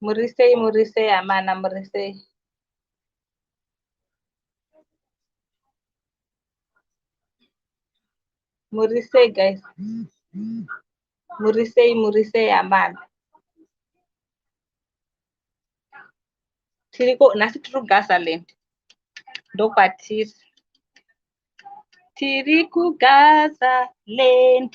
Murisei, murisei amana, murisei. Murisei guys. Murisei, murisei amana. Tiriko, nasi tiri kuGazaland. Ndokwatiri. Tiri kuGazaland.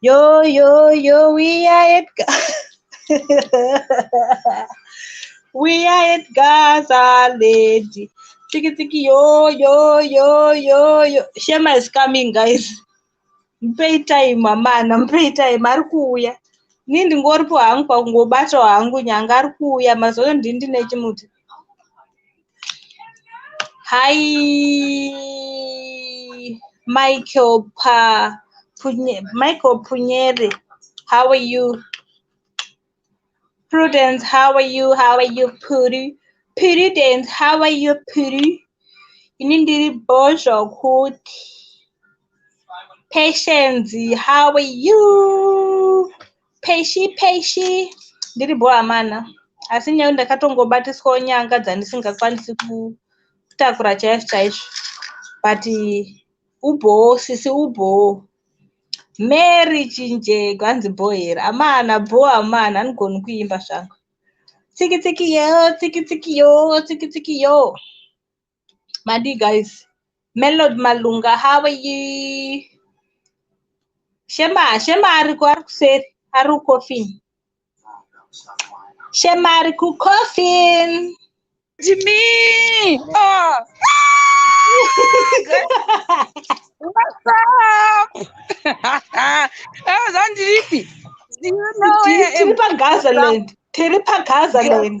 Yo, yo, yo, we are at We are at Gaza, lady. Tiki, tiki, yo, yo, yo, yo, yo. Shema is coming, guys. Mpei time, amana, mpei time. Ari kuuya. Ni ndingoripo hangu pakungobatawo hangu nyanga ari kuuya mazoyo ndini ndine chimuti. Hi, Michael Pa, Punye, Michael Punyere. How are you? Prudence, how are you? How are you, Puri? Prudence, how are you, Puri? Ini ndiri bho zvokuti. Patience, how are you? Peishi peishi ndiri bho amana asi nyaya ndakatongobatiswawo nyanga dzandisingakwanisi kutakura chaizvo chaizvo but ubhowo sisi ubhowo mary chinjego hanzi bho here amana bho amana anigoni kuimba zvangu tsiki tsiki yo tsiki tsiki yo tsiki tsiki yo Madi guys. Melod Malunga, how are you? Shema, Shema ariko ari kuseri, ari coffin. Shema ari ku coffin. Jimmy. Oh. What's up? Ewe zvandiripi? Do you know where Tiri pa Gazaland. Tiri pa Gazaland.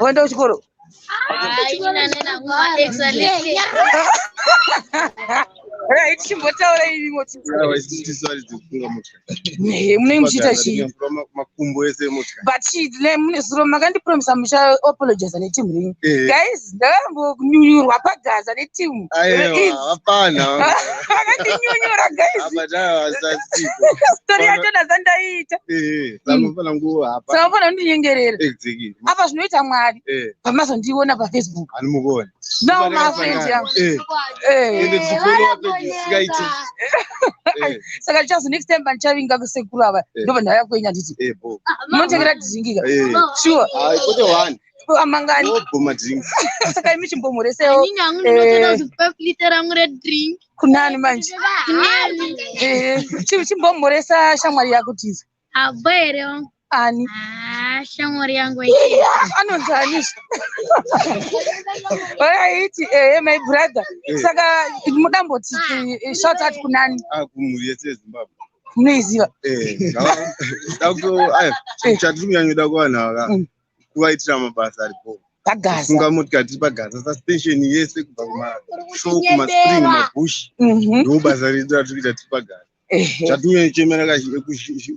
Waenda kuchikoro? Chimbotaura irimo munenge muchiita chii? But zuro makandipromisa muchaapologiza neteam renyu. Eh. Guys, ndakambokunyunyurwa pagaza neteam. Hapana. Makandinyunyura guys. Story yacho ndazandaiita. Samafana kundinyengerera. apa zvinoita mwari eh. pamazondiona pafacebook animukuona no mafriend yangu eh. eh. ende tichifollowa page sikaiti saka chazo next time pandichavinga kusekuru ava ndobva ndauya kwenyu handiti munotengera tizingika sure amangani saka imi chimbomhoresewo kunani manje chimbomhoresa shamwari yako tiza Habo here wangu? Ani. Ah, shamwari yangu iyi. Anonzi ani? Waiti eh my brother. Eh. Saka mudamboti ah. shout out kunani? Ah, kumuri yese Zimbabwe. Munoiziva? Eh. Dako ayo. Eh. Chatiri kunyanyoda kuvanhu ava. Mm. Kuvaitira mabasa aripo. pagaza funga motika tiri pagaza suspension yese kubva kumashow kumaspring mabush mhm. ndobasa redu ratiri kuita tiri pagaza chatuuye chichemera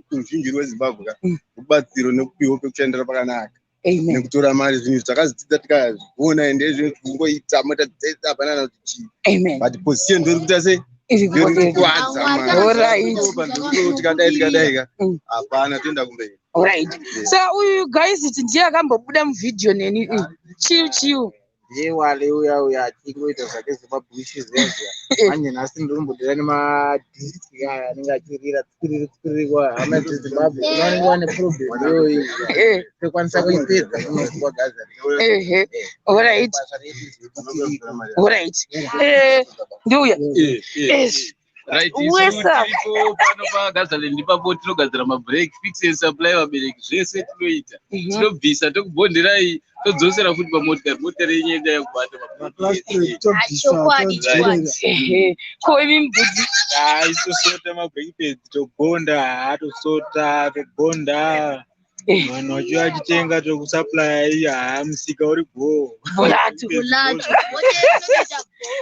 kuzhinji rwezimbabwe ka mm. rubatsiro nekupiwa pekushandira pakanaka nekutora mari zvinhu izvi takazvidzidza tikazviona ende izvo kungoita mota dzese hapana na kuti chii but position ndori kuita sei irikukwadzaatikadaitikaika mm. hapana toenda kumberi right so uyu guys ndiye akambobuda muvhidhiyo neni mm. chiu chiu ndiye wale uya uya achingoita zvake zvemabhushi zviya zviya manje nhasi ndiri kumbodira nemadhiski aya anenge achirira tsikiriri tsikiriri kwa hama dzezimbabwe vanenge vane problem iyoyi Eh, tokwanisa kuipedza kunozwa gaza ehe, alright, alright. Eh, ndiuya. Yes. Right, Uwe isu sa- tiripo pano pagazaland ipapo tinogadzira mabreak fix and supply vabereki zvese tinoita Mhm. tinobvisa tokubhondherai todzosera futi pamotikari motikari yenyu yenda yakubata Maplastic tobvisa Chokwadi, todzorera. Ehe. Ko imi mbudzi. Ah, isu sota mabreak pads tobonda ah, tosota tobonda vanhu vachiuya vachitenga tokusaplaya iya haa musika uri bhoo Bulatu. Bulatu.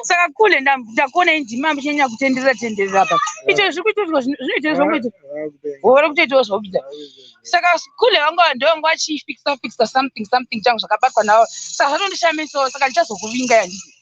saka kule ndam- ndakuona indima muchinyanya kutenderera tenderera apa icho zviri kuitoitwa zvino- zvinoitwa zvokuita gore kutoitawo zvokuita saka kule vanga ndovanga vachifixa fixa something something changu zvakabatwa navo saka zvatondishamisawo saka ndichazokuvinga yandii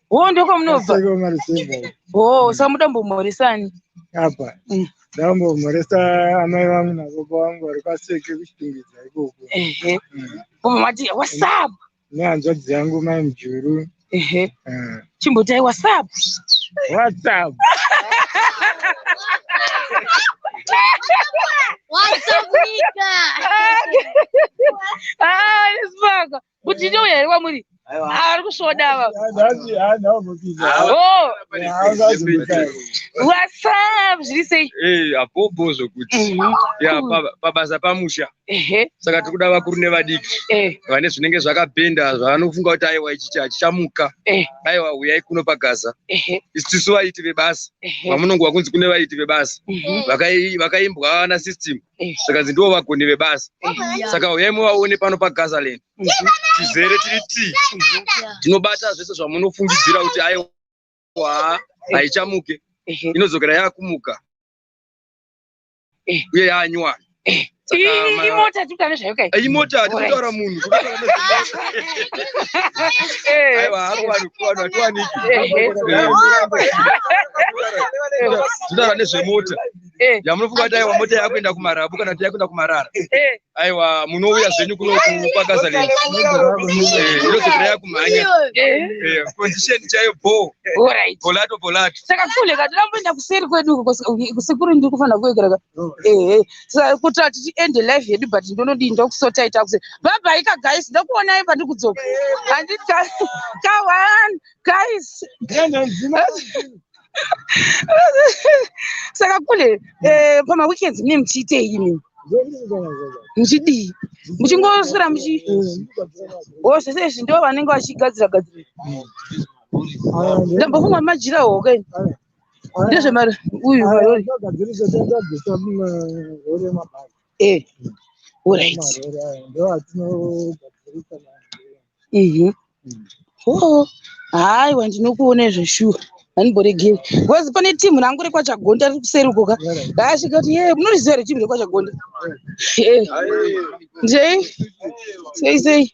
Oh, ndokomunobva. Aseka mari seva. Oh, usamuda mbomhoresani. Apa. Mm. Ndambomhoresa amai vangu nababa vangu vari kwaseke kuchitungidza ikoko. Ehe. Mm. Baba mati what's up? Nehanzvadzi yangu mai Mjuru. Ehe. Mm. Chimbotai what's up? What's up? What's up, Nika? Ah, this fuck. kuti ndiye uya here kwamuri ari kusvoda ava whatsapp zviri sei eh, apobo zvokuti pabasa pamusha saka tiri kuda vakuru nevadiki eh. vane zvinenge zvakapenda zvavanofunga kuti aiwa ichi chichamuka eh. aiwa huyai kuno pagaza isu vaiti vebasa vamunongo vakunzi kune vaiti vebasa mhm. vakaimbwa vana system zvikanzi ndivo vagoni vebasa saka huyai muvaone pano pagazaland tizere tiri ti tinobata zvese zvamunofungidzira kuti aiwa haichamuke inodzokera yakumuka uye yanywana imota tikutane zvayo kai imota tikutaura munhu aiwa hakuvanhu kuvanhu hatiwaniki titaura nezvemota eh. yamunofunga kuti aiwa mota yakuenda kumarabu kana kuti yakuenda kumarara eh. aiwa munouya zvenyu kuno kupakazaland eh, inozokira yakumhanya condition chaiyo bho bolato bolato saka kule kati ramboenda kuseri kwedu kusekuru ndiri kufanira kuekereka oh. kuti ati tiende life yedu but ndonodii ndokusota ita kuse baba ika guys ndokuonai pandiri kudzoka handiti kawan guys saka kule eh, pamaweekends mune muchiitei imi muchidii muchingoswera muchi o oh, zvese izvi ndo vanenge vachigadzira gadzira ndambofunga majira hoke ndezvemari uyu Eh, alright. Marwere aya ndiwo atinogadzirisa nawo. Mhm. Oh, haiwa ndinokuona izvo shuwa handiboregei bcause pane timu rangu rekwachagonda riri kuseri uko ka raasvika kuti ye munoriziva here timu rekwachagonda Eh, ndei sei sei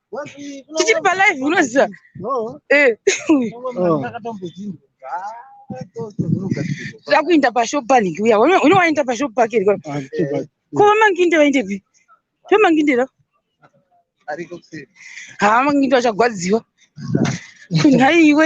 tichiri palive unoziva eh. tira kuinda pashop panik uya une wainda pashop pake ri ko vamanginde vaindepi vamanginde ra haa manginde vachagwadziwa kunhaiwe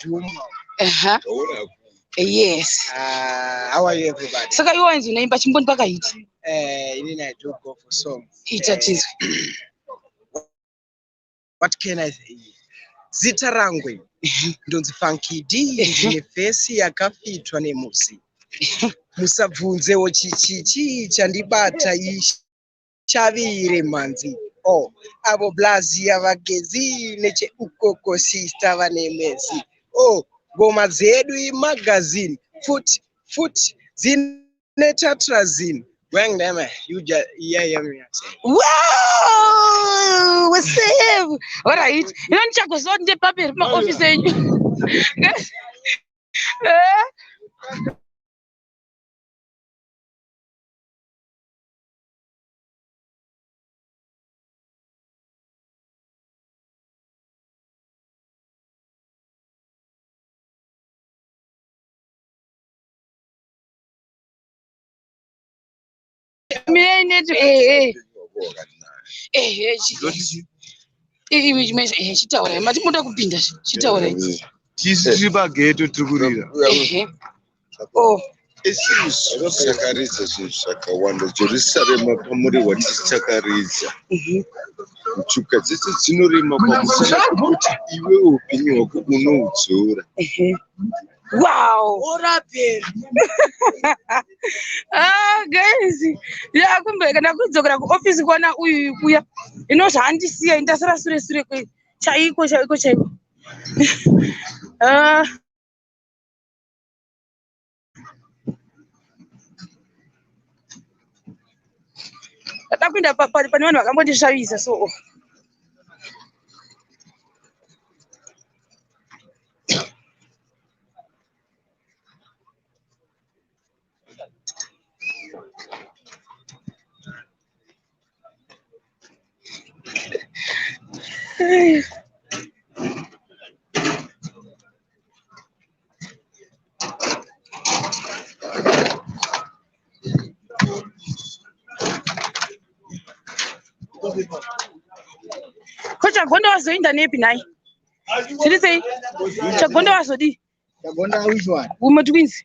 Dhumba. Aha. Ndaona ku. Yes. Ah, how are you everybody? Saka iwe wanzi unaimba chimboni pakahiti. Eh, ini I do go for song. Ita Eh, tizwe. What can I say? Zita rangu iri, ndonzi Funky D ndine face yakafitwa nemusi. Musabvunzewo chichi chii chandibata ichi. chavire mhanzi o oh, avo blazi yavagezi necheukoko sista vane mezi o oh, ngoma dzedu imagazini futi futi dzine tatrazini Wang them, you just yeah, yeah, yeah. Wow, what's up? All right. You don't check us out in the paper, my office. Eh? Mine to eh eh. Eh image image eh chitaura mati moda kupinda chitaura. Tisi tiri pageto tiri kurira. Eh. Oh. Isusu tichakaridza zvinhu zvakawanda Jerusarema pamuri wati tichakaridza mhm. ntuka dzese dzinorema pamusana kuti iwe upenyu hwako unoudzora mhm. wow orapera ah guys yakumbeka ndakudzokera kuoffice kwana uyu kuya ino zvaandisiya ndasara sure sure kwe chaiko chaiko chaiko ah Ndada kuenda pane vanhu vakambondishavisa so. ko chagonda wazoinda nepi nhai zviri sei chagonda wazodii Chagonda which one? umwe twins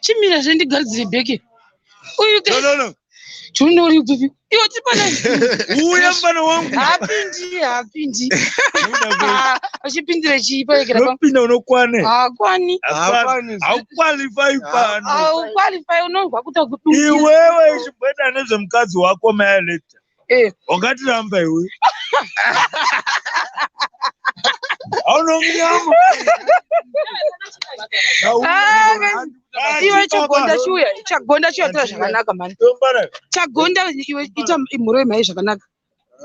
chimira zve ndigadzire bheke uyu no, no, no. tunori kupi iwo tipana uya mfana wangu hapindi hapindi achipindira chii paekerapinda unokwane hakwani haukwalifai pano haukwalifai unonzwa kuta kudu iwewe ichibweda nezvemukadzi wako maeleta Eh. ungatiramba iwe aunomunyama Ah, man. iwe chagonda chiuya chagonda chiuya tora zvakanaka mani chagonda iwe ita mhoro yemhai zvakanaka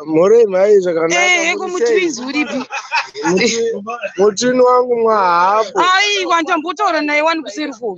mhorei mhai Eh, heko muti zvakanaka winzi uripi mutini wangu mwahapo aiwa ndambotaura naye wani kuseri ko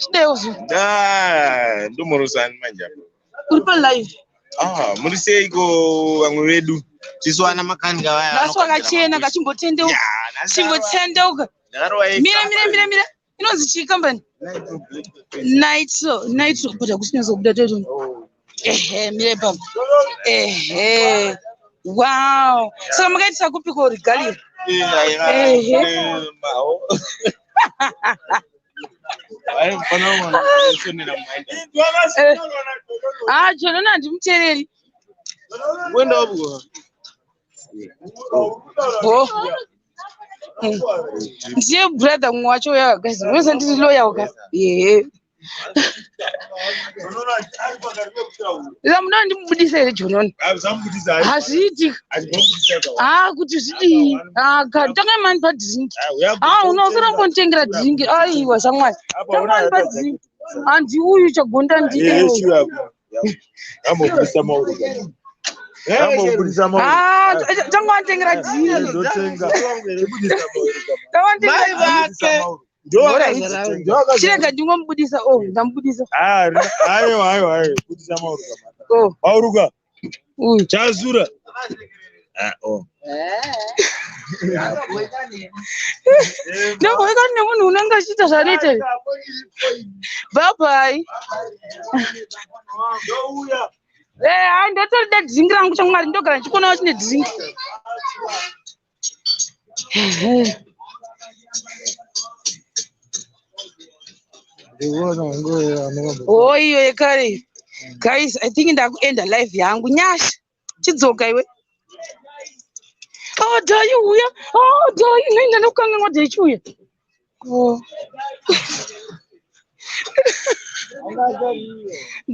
Chideuzvi. Ah, ndomorosani manje apo. Uri pa live. Ah, muri seiko vamwe vedu? Tisu ana makanga vaya. Nhasi wakachena kachimbotendeuka. Chimbotendeuka. Mira mira mira mira. Inonzi chii kambani? Nitro, Nitro, but hakusi nyatsobuda toto. Oh. ehe mire ipapo ehe wow so makaitisa kupiko regalia ehe ah jonona handimuteereri bo ndiye brother mumwe wacho uya guys unosa ndiri loya uka ehe munoti ndimubudisa here jononi hazviiti haa kuti zvidii tanga mani padhiringi haa unosara kunditengera dhiringi aiwa shamwari tanga mani padhiringi handi uyu chagonda ndiye tanga wanditengera dhiringi chirega ndingomubudisa o oh, ndamubudisa ayo ayo ayo budisa mauruka oh. mauruka chazura ah, oh. ndogoikani nemunhu unenge achiita zvanoita bhabhai eh, ndotorida dringi rangu chamwari ndogara ndichikonawo chine dringi Oh, iyo yekare guys i think ndakuenda live yangu nyasha chidzoka iwe oh dai uya oh dai ngai ndanokanganwa dai chiuya oh.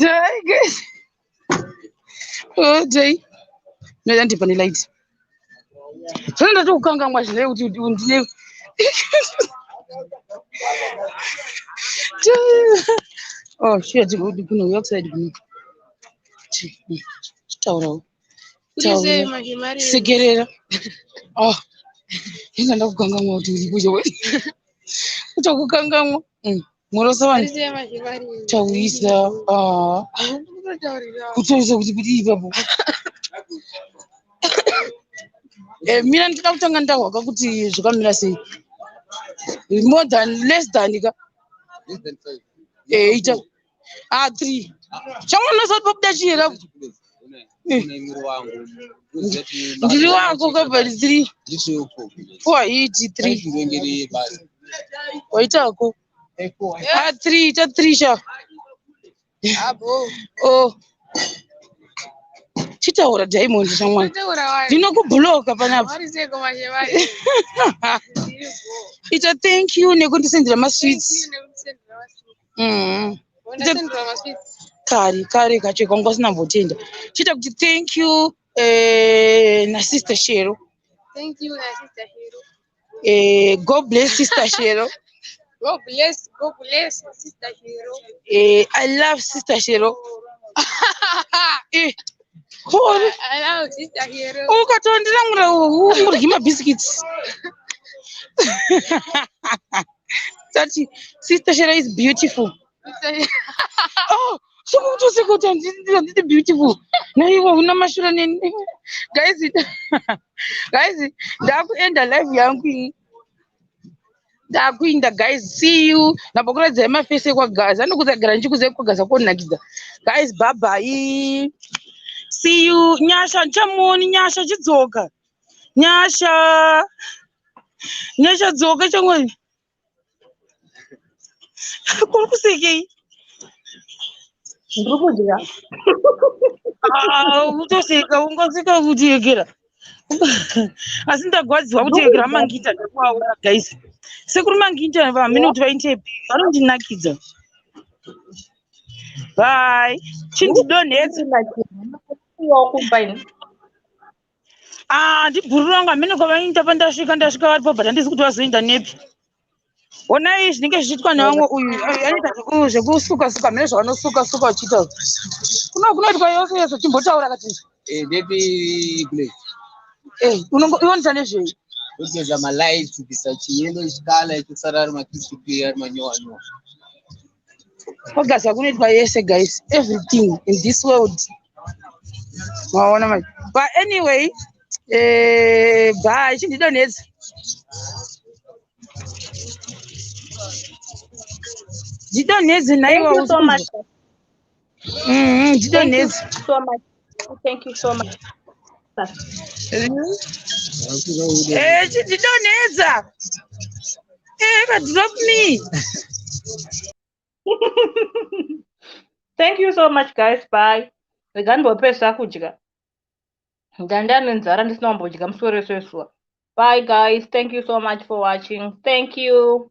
dai guys Jay, ndoda ndipa nelight. Zvino ndati kukangamwa zvine kuti undine. Oh shit, kuno outside kuno. Taurawo. Sekerera. Oh. Ndinda ndakukangamwa kuti uri kuyo. Kutokukangamwa. Mm. Morosa vanhu taurisa ah. kutaurisa kuti kuti ipapo eh, mina ndida kutanga ndahwaka kuti zvakamira sei more than less than ka eita eh, a ah, three chamwana sati pabuda chiyera ndiri wako kabari three four hiti three waita wako a ah, three ita three sha o oh. chitaura diamond shamwari ndinokubhuloka panapa ita thank you nekundisendera masweets mm. kari kari kacho kwanga usina mbotenda chiita kuti thank you eh, nasister shero thank you nasister shero eh, god bless sister shero God bless, God bless, Sister Shiro. Eh, I love Sister Shiro. eh, cool. I love Sister Shiro. Oh, katondira mura, murgi ma biscuits. That sister Shera is beautiful. oh, sikutusi kuti handiti beautiful naivo una mashura neni guys guys ndakuenda live yangu ini ndakuinda guys see you nabokuradzai mafese ekwagaza anokutsagara ndichikuza ekwagaza konakidza guys babai see you nyasha ndichamuoni nyasha chidzoka Nyasha. Nyasha dzoka changwani. Kuri kusekei? Ndiri kudya. Ah, utoseka ungaseka kuti yekera. Asi ndagwadziwa kuti yekera mangita ndakuaura guys. Sekuru mangita vamene kuti vaite vanondinakidza. Bye. Chindidonhedza. Ndiri kumba ini. handibhururu ah, vangu hamene kwavainda pandasvika ndasvika varipo but handizi kuti vazoinda nepi honai zvinenge zvichiitwa nevamwe uyu anoita zvekusuka suka mene zvavanosuka suka uchiita kuno kunoitwa yose yese chimbotaura kati eh, nepi kule eh, unongoita nezvei kugeza malights kubvisa chiyelo chikala ichosara ari makisi kuya ari manyowa nyowa Focus hakunoitwa yese guys. Everything in this world. Maona manje. But anyway, eh bye chindidonedza. Didonedza naiwa. Thank you so much. Mm, ndido nezi. So much. Thank you so much. Eh, ndido neza. Eh, but drop me. Thank you so much guys. Bye. Rega ndopesa kudya. Ndanda nenzara ndisina kumbodya musoro wese wesuwa. Bye guys. Thank you so much for watching. Thank you.